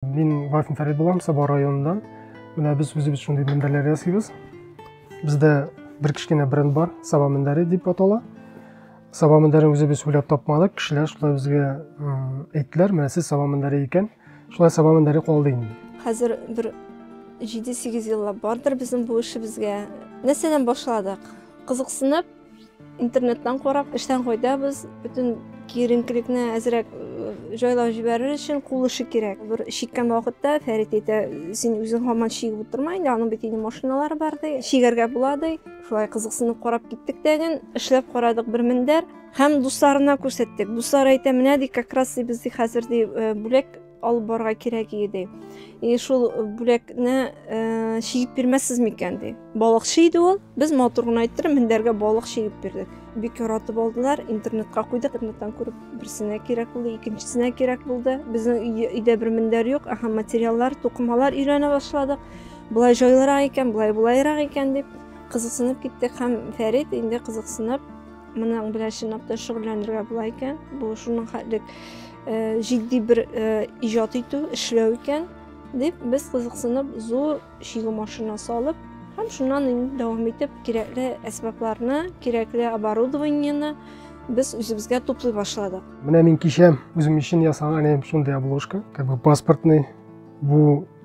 Мин Вафин Фәрит булам, Саба районыннан. Менә без үзебез шундый мендәрләр ясыйбыз. Бездә бер кечкенә бренд бар, Саба мендәре дип атала. Саба мендәрен үзебез уйлап тапмадык, кешеләр шулай безгә әйттеләр, менә сез Саба мендәре икән. Шулай Саба мендәре калды инде. Хәзер бер 7-8 еллап бардыр безнең бу эшебезгә. Нәрсәдән башладык? Кызыксынып, Интернеттан карап, эштән кайтабыз. Бөтен киеренкелекне әзрәк э, җайлап җибәрер өчен кул эше кирәк. Бер чиккән вакытта Фәрит әйтә, син үзең һаман чигеп утырма инде, аның бит инде машиналары бар ди. Чигәргә була ди. Шулай кызыксынып карап киттек тәген, эшләп карадык бер мендәр һәм дусларына күрсәттек. Дуслар әйтә, менә ди, как раз ди без ди хәзер ди э, бүләк алып барырга кирәк иде и шул бүләкне э, чигеп бирмәссез микән ди балыкчы иде ул без матур гына әйттем мендәргә балык чигеп бирдек бик яратып алдылар интернетка куйдык интернеттан күреп берсенә кирәк булды икенчесенә кирәк булды безнең өйдә бер мендәр юк аха материаллар тукымалар өйрәнә башладык былай җайлырак икән былай болайрак икән дип кызыксынып киттек һәм фәрит инде кызыксынып Моның белән чынлап та шөгыльләнергә була икән. Бу шуның хәтлек э, җитди бер э, иҗат итү, эшләү икән дип без кызыксынып зур чигү машина салып һәм шуннан инде дәвам итеп кирәкле әсбапларны, кирәкле оборудованиены без үзебезгә туплый башладык. Менә мин кичә үзем өчен ясаган әле шундый обложка, как бы паспортный. Бу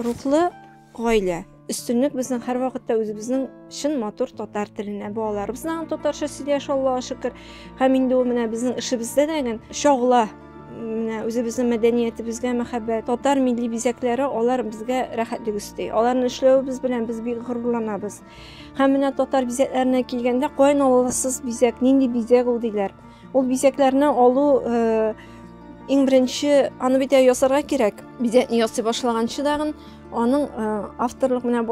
Рухлы гаилә. Өстенлек безнең һәрвакытта үзебезнең чын матур татар теленә. Балаларыбыз да татарча сөйләшә, Аллага шөкер. Һәм инде ул менә безнең эшебездә дә гел чагыла. Менә үзебезнең мәдәниятебезгә мәхәббәт, татар милли бизәкләре алар безгә рәхәтлек өсти. Аларны эшләвебез белән без бик горурланабыз. Һәм менә татар бизәкләренә килгәндә, каян аласыз бизәк, нинди бизәк ул диләр. Ул бизәкләрне алу э, Иң беренче аны бит ясарга кирәк. Бизәкне ясый башлаганчы дагын аның э, авторлык менә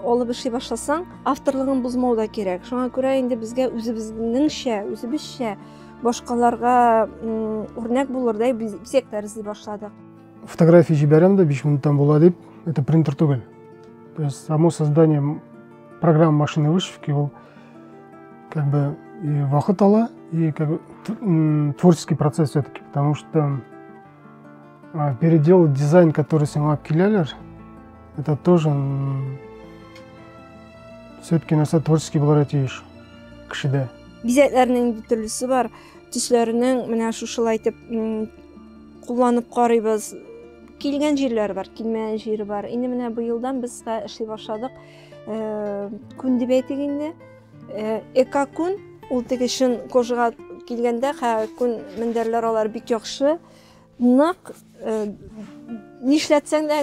алып эшли башласаң, авторлыгын бозмау да кирәк. Шуңа күрә инде безгә үзебезнеңчә, үзебезчә башкаларга үрнәк булырдай бизәк тәрзи башладык. Фотография җибәрәм дә 5 минуттан була дип, это принтер түгел. То есть само создание программы машины вышивки ул Как бы и вахыт ала, и как бы, творческий процесс все-таки, потому что а, переделать дизайн, который снял Акилялер, это тоже все-таки на нәрсә творческий булырга тиеш кешедә. Бизәкләрнең инде төрлесе бар. Төсләренең менә шушылай итеп кулланып карыйбыз. Килгән җирләр бар, килмәгән җире бар. Инде менә быелдан без эшли башладык. күн дип әйтик инде эка күн ул теге чын кожага килгәндә күн мендәрләр алар бик яхшы нык нишләтсәң дә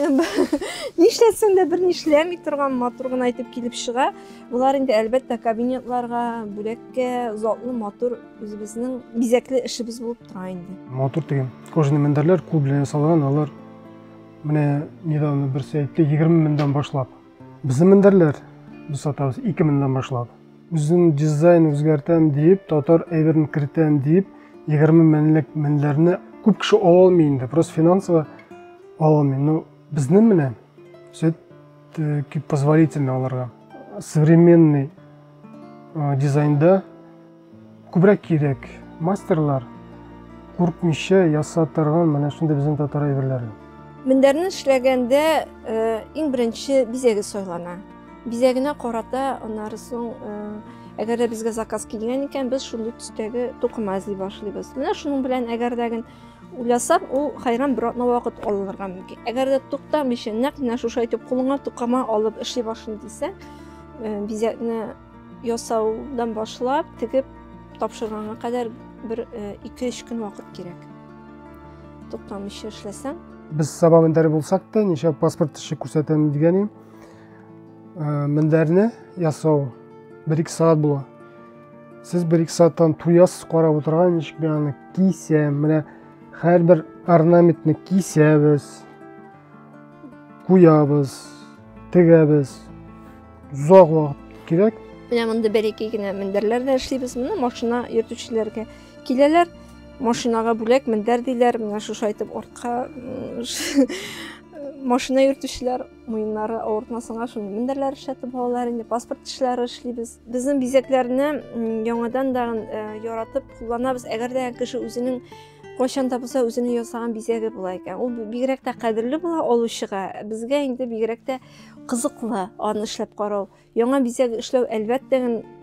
нишләтсәң дә бер нишләми торган матур гына итеп килеп чыга болар инде әлбәттә кабинетларга бүләккә затлы матур үзебезнең бизәкле эшебез булып тора инде матур теге кожаный мендәрләр кул белән ясалган алар менә недавно берсе әйтте егерме меңдән башлап Безнең мендәрләр без сатабыз 2 меңнән башлап. Үзем дизайн үзгәртәм дип, татар әйберен кертәм дип, 20 меңлек мендәрне күп кеше ала алмый инде, просто финансово ала алмый. Но безнең менә сөт э, позволительно аларга. Современный э, дизайнда Күбрәк кирәк. Мастерлар куркмыйча яса торган менә шундый безнең татар әйберләре. Мендәрне эшләгәндә иң беренче бизәге сайлана. Бизәгенә карата аннары соң әгәр дә безгә заказ килгән икән, без шундый төстәге тукыма эзли башлыйбыз. Менә шуның белән әгәр дә гел уйласак, ул хайран бер атна вакыт алынырга мөмкин. Әгәр дә туктамыйча, нәкъ менә шушы әйтеп кулыңа тукыма алып эшли башлыйм дисәң, бизәкне Ясаудан башлап, тегеп тапшырганга кадәр бер 2-3 э, көн вакыт кирәк. Туктамыйча эшләсәң. Без Саба мендәре булсак та, ничә паспорт эше күрсәтәм дигән идем. Э, мендәрне ясау 1-2 сәгать була. Сез 1-2 сәгатьтән туясыз карап утырган, ничек мин аны кисәм, менә һәрбер орнаментны кисәбез, куябыз. тегәбез озак вакыт кирәк менә монда бер ике генә мендәрләр дә эшлибез менә машина йөртүчеләргә киләләр машинага бүләк мендәр диләр менә шушы әйтеп артка машина йөртүчеләр муеннары авыртмасынга шундый мендәрләр эшләтеп алалар инде паспорт эшләре эшлибез безнең бизәкләрне яңадан да яратып кулланабыз әгәр дә кеше үзенең Кайчан да булса үзенең ясаган бизәге була икән. Ул бигрәк тә кадерле була алучыга. Безгә инде бигрәк тә кызыклы аны эшләп карау. Яңа бизәк эшләү әлбәттә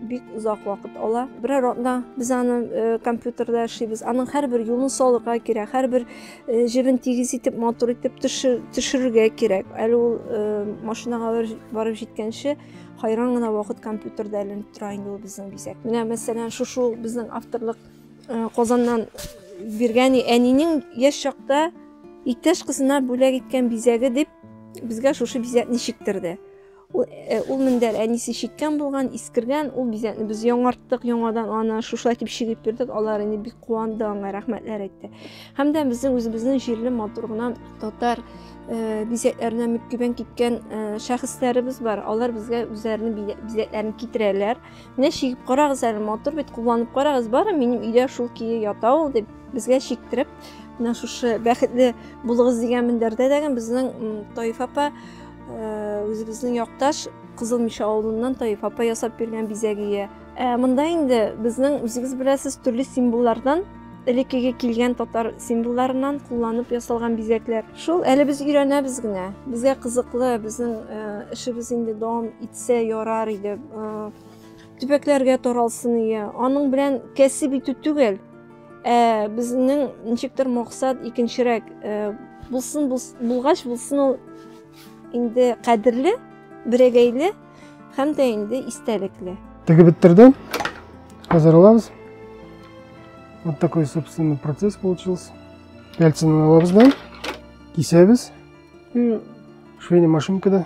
бик озак вакыт ала. Берәр атна без аны э, компьютерда эшлибез. Аның һәрбер юлын салырга кирәк, һәрбер э, җебен тигез итеп, матур итеп төшерергә кирәк. Әле ул э, машинага барып җиткәнче хайран гына вакыт компьютерда әйләнеп тора инде ул безнең бизәк. Менә мәсәлән, шушы безнең авторлык Э, Казаннан биргән әнинең яшь чакта иптәш кызына бүләк иткән бизәге дип безгә шушы бизәкне чиктерде. Ул, э, ул мендәр әнисе чиккән булган, искергән, ул бизәкне без яңарттык, яңадан аны шуша итеп чигеп бирдек. Алар инде бик куанды, аңа рәхмәтләр әйтте. Һәм дә безнең үзебезнең җирле матур гына татар э, бизәкләренә мөккибән киткән э, шәхесләребез бар. Алар безгә үзләренең бизәкләрен китерәләр. Менә чигеп карагыз әле, матур бит, кулланып карагыз, бары минем өйдә шул кие ята ул дип безгә чиктереп, менә шушы бәхетле булыгыз дигән мендәрдә дәген безнең Таиф апа э, үзебезнең якташ Кызыл Миша авылыннан Таиф апа ясап биргән бизәгие. Ә монда инде безнең үзегез беләсез төрле символлардан элеккеге килгән татар символларыннан кулланып ясалган бизәкләр. Шул әле без өйрәнәбез генә. Безгә кызыклы, безнең эшебез инде дәвам итсә ярар иде. Төбәкләргә таралсын иде. Аның белән кәсеп итү түгел, ә безнең ничектер максат икенчерәк. Булсын булгач, булсын ул инде кадерле, берәгәйле һәм дә инде истәлекле. Тегеп беттердем. Хәзер алабыз. Вот такой, собственно, процесс получился. Пяльцем алабыз да, кисәбез. И швейный машинкада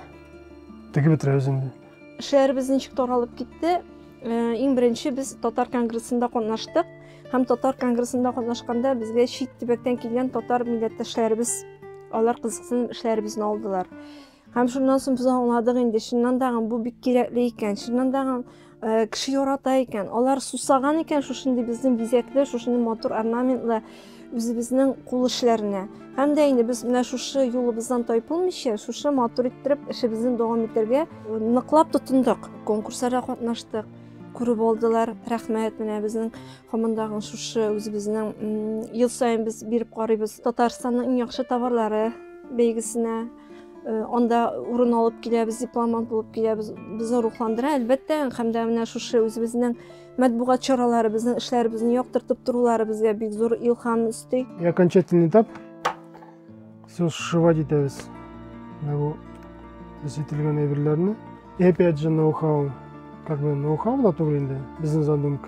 тегеп бетерәбез инде. Шәһәребез ничек таралып китте? Э, иң беренче без татар конгрессында катнаштык һәм татар конгрессында катнашканда безгә чит төбәктән килгән татар милләттәшләребез алар кызыксынып эшләребезне алдылар Һәм шуннан соң без аңладык инде, чыннан да бу бик кирәкле икән, чыннан да э, кеше ярата икән. Алар сусаган икән шушындый безнең бизәкле, шушындый матур орнаментлы үзебезнең кул эшләренә. Һәм дә инде без менә шушы юлыбыздан тайпылмыйча, шушы матур иттереп эшебезне дәвам итәргә ныклап тотындык. Конкурсларда катнаштык, күреп алдылар. Рәхмәт менә безнең һамандагы шушы үзебезнең ел саен без биреп карыйбыз Татарстанның иң яхшы товарлары бәйгесенә Э, анда урын алып киләбез дипломант булып киләбез безне рухландыра әлбәттә һәм дә менә шушы үзебезнең матбугат чаралары безнең эшләребезне яктыртып торулары безгә бик зур илһам өсти и окончательный этап все сшивать итәбез менә бу без ителгән әйберләрне и опять же ноу хау как бы ноу хау да түгел инде бизнес задумка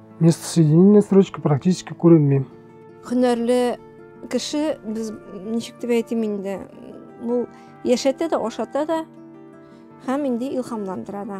Место соединения строчка практически күренми. Һөнәрле кеше без ничек дип әйтим инде, бу яшәтә дә, ашата да һәм инде илһамландыра да.